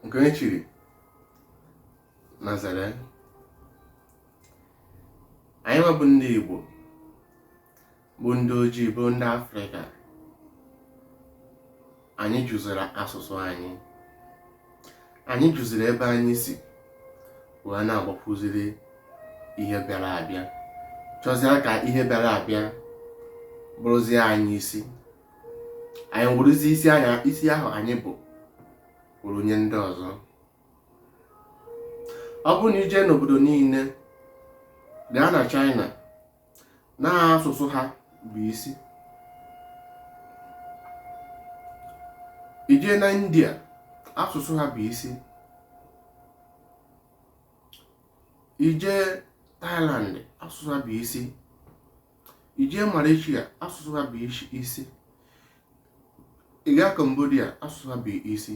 nke onye chiri nazare anyị nwa bụ ndị Igbo bụ ndị ojii bụ ndị Afrịka anyị jụziri asụsụ anyị anyị jụziri ebe anyị si wee na-agbakuziri ihe bịara abịa chọzie ka ihe bịara abịa bụrụzie anyị isi anyị weruzi isi ahụ anyị bụ weru nye ndị ọzọ ọ bụrụ na i jee n'obodo niile gaa na China na asụsụ ha bụ isi i jee na India asụsụ ha bụ isi i jee Thailand asụsụ ha bụ isi i jee Malaysia asụsụ ha bụ isi ị gaa Cambodia asụsụ ha bụ isi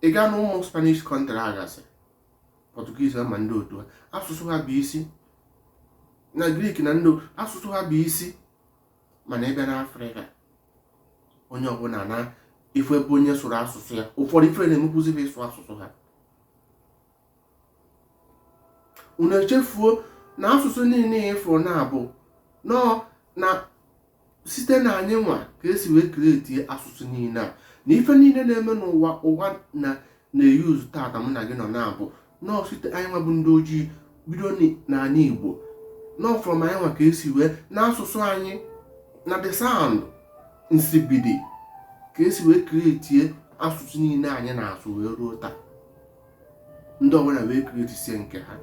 ị gaa na ụmụ Spanish country a gasị Portuguese ma ndị otu ha asụsụ ha bụ isi na Greek na ndị asụsụ ha bụ isi mana ị bịa na Afrịka onye ọbụna na ife bụ onye sụrụ asụsụ ya ụfọdụ ife na-emekwuzi fa ịsụ asụsụ ha unu echefuo na asụsụ niile ị fụrụ na ọ bụ nọọ na site na anyị nwa ka esi wee kretie asụsụ niile a na ife niile na-eme n'ụwa ụwa na na-eyuzu tata mụ na gị nọ na ọ bụ nọọ site anyị nwa bụ ndị ojii bido n'ala igbo nọọ from anyị nwa ka esi wee n'asụsụ anyị na the sound nsibidi ka esi wee kretie asụsụ niile anyị na-asụ wee ruo taa ndị ọbụla wee kretisie nke ha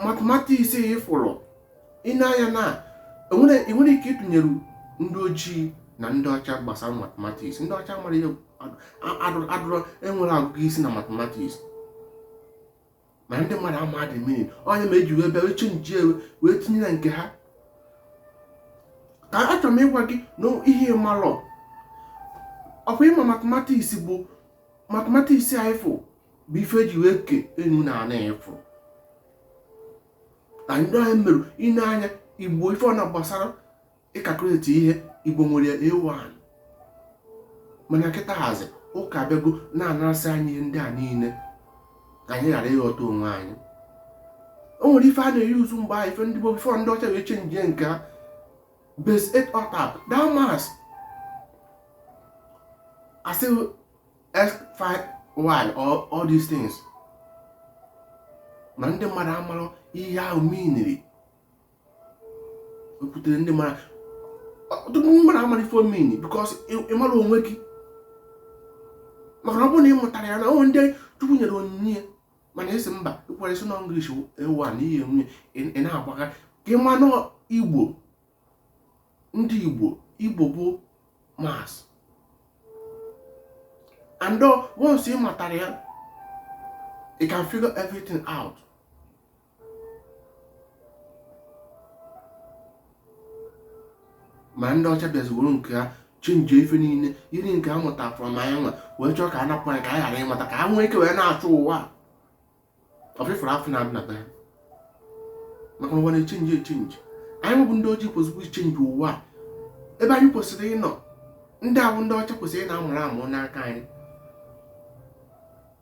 matematiks ị fụrụ ine anya na enwere ike ịtụnyere ndị ojii na ndị ọcha gbasara matematiks ndị ọcha mara ihe adịrọ enwere agụgụ isi na matematiks ma ndị mmadụ ama the meaning ọ ya mere eji wee bịa wee chenjie wee tinye na nke ha ka achọrọ m ịgwa gị na ihe ị malụ ọkwa ị ma matematiks bụ matematiks a ị fụ bụ ife eji wee ke enu na ana ị fụrụ na ndị anyị merụ ine anya igbo ife ọ na gbasara ịkakuleti ihe igbo nwere a1 mana kịtaazị ụka abịago na-anasị anyị ihe ndị a niile ka anyị ghara ịghọta onwe anyị o nwere ife a na-eyuzu mgbe ahụ ife ndị gboo bifọ ndị ọcha wee chenjie nke ha base 8 otap that maths a sị x5 y all these things ma ndị mmadụ amarọ ihe ha miniri ekwutere ndị mara ọtụtụ ndị mara amara ife ọ mini because ịmara onwe gị maka na ọ bụrụ na ị mụtara ya na o nwee ndị chukwu nyere onyinye mana a sị mba ịkwara isi na english ewu a na ihe nwunye ị na-agbaga ka ị ma na igbo ndị igbo igbo bụ maths and once ị matara ya you can figure everything out ma ndị ọcha bịazi were nke ha chenji ife niile jiri nke ha mụta from anyị nwa wee chọọ ka a napụ anyị ka anyị ghara ịmata ka ha nwee ike wee na-achị ụwa ọfịfụrụ afọ na-adị na be ha maka ụwa na-echenji echenji anyị nwa bụ ndị ojii kwesịrị ichenji ụwa ebe anyị kwesịrị ịnọ ndị ahụ ndị ọcha kwesịrị ịna-amụrụ amụ n'aka anyị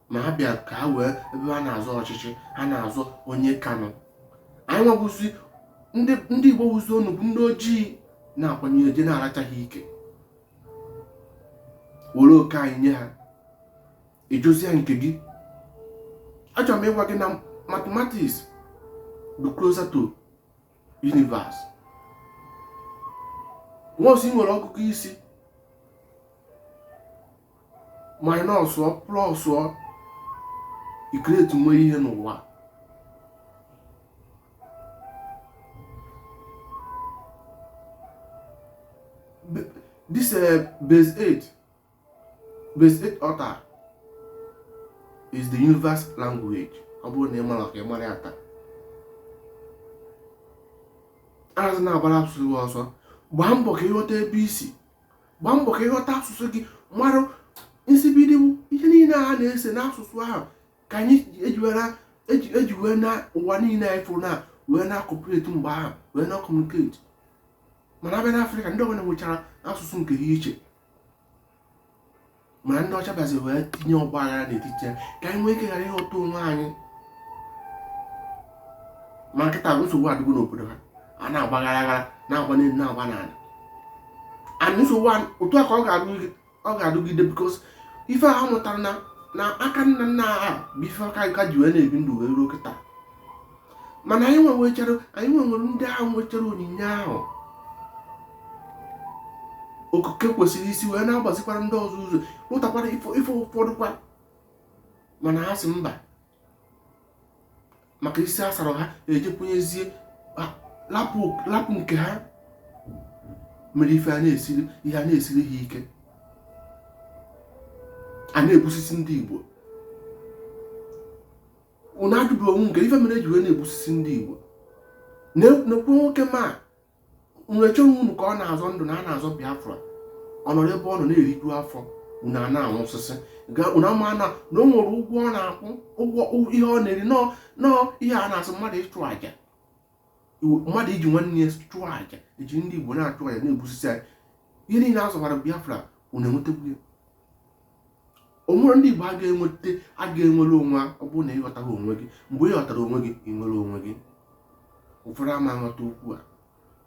ma a bịa ka ha wee ebe ha na-azọ ọchịchị ha na-azọ onye kanụ anyị nwa bụzi ndị igbo wuzi onu bụ ndị ojii na-akwanye eje na-aracha ha ike were oke anyị nye ha ejozie nke gị achọrọ m ịgwa gị na mathematics dị closer to universe once ị nwere ọgụgụ isi minus ọ plus ọ ikreti nwe ihe n'ụwa this uh, base 8 base 8 octal is the universe language ọ bụrụ na ị mara ka ị mara ya taa azịna agbara asụsụ gị ọsọ gbaa mbọ ka ị ghọta ebe i si gbaa mbọ ka ị ghọta asụsụ gị mara nsibidi ihe niile a na-ese n'asụsụ ahụ ka anyị eji wee na ụwa niile anyị fụrụ na wee na-akọpụreti mgbe ahụ wee na-akọmuniketi mana a bịa n'afrịka ndị ọbụla nwechara asụsụ nke ha iche ma ndị ọcha bịazi wee tinye ọgba aghara n'etiti ya ka anyị nwee ike ghara ịghọta onwe anyị ma kịta nsogbu adịgo n'obodo ha a na-agbagharị aghara na-agba n'elu na-agba n'ala and nsogbu otu a ka ọ ga-adịgide because ife ha mụtara na aka nna nna ha bụ ife ha ka ji wee na-ebi ndụ wee ruo kịta mana anyị nwechara anyị nwere ndị ahụ nwechara onyinye ahụ okike kwesịrị isi wee na-agbazikwara ndị ọzọ ụzọ rụtakwara ife ụfọdụ kwa mana ha sị mba maka isi a sara ha eji kwenyezie lapụ nke ha mere ife a na-esiri ha ike a na-egbusisi ndị Igbo unu ajụbu onwe unu kee ife mere eji wee na-egbusisi ndị Igbo na-ekwu nwoke ma nwere chọrọ unu ka ọ na-azọ ndụ na a na-azọ Biafra ọ nọrọ ebe ọ nọ na-eriju afọ unu a na-anwụsisi unu ama na o nwere ụgwọ ọ na-akwụ ụgwọ ihe ọ na-eri nọọ ihe a na-asị mmadụ ịchụ àjà mmadụ iji nwanne ya chụọ àjà eji ndị Igbo na-achụ àjà na-egbusisi anyị ihe niile a zọbara Biafra unu enwetago ya o nwere ndị Igbo a ga-enweta a ga-enwere onwe ọ bụrụ na ị ghọtara onwe gị mgbe ị ghọtara onwe gị ị nwere onwe gị ụfọdụ ama aghọta okwu a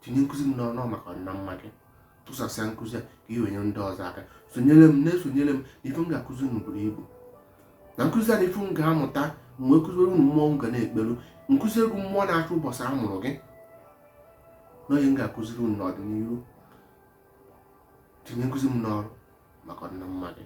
tinye nkụzi m n'ọrụ maka ọdịna mma gị tụsasịa nkụzi a ka ị wee nye ndị ọzọ aka sonyere m na-esonyere m na ife m ga-akụzi unu buru ibu na nkụzi a na ife ị ga-amụta mgbe m kụziere unu mmụọ m ga na-ekpelu nkụzi egwu mmụọ na-achị ụbọchị a mụrụ gị n'ihe m ga-akụziri unu n'ọdịnihu tinye nkụzi m n'ọrụ maka ọdịna mma gị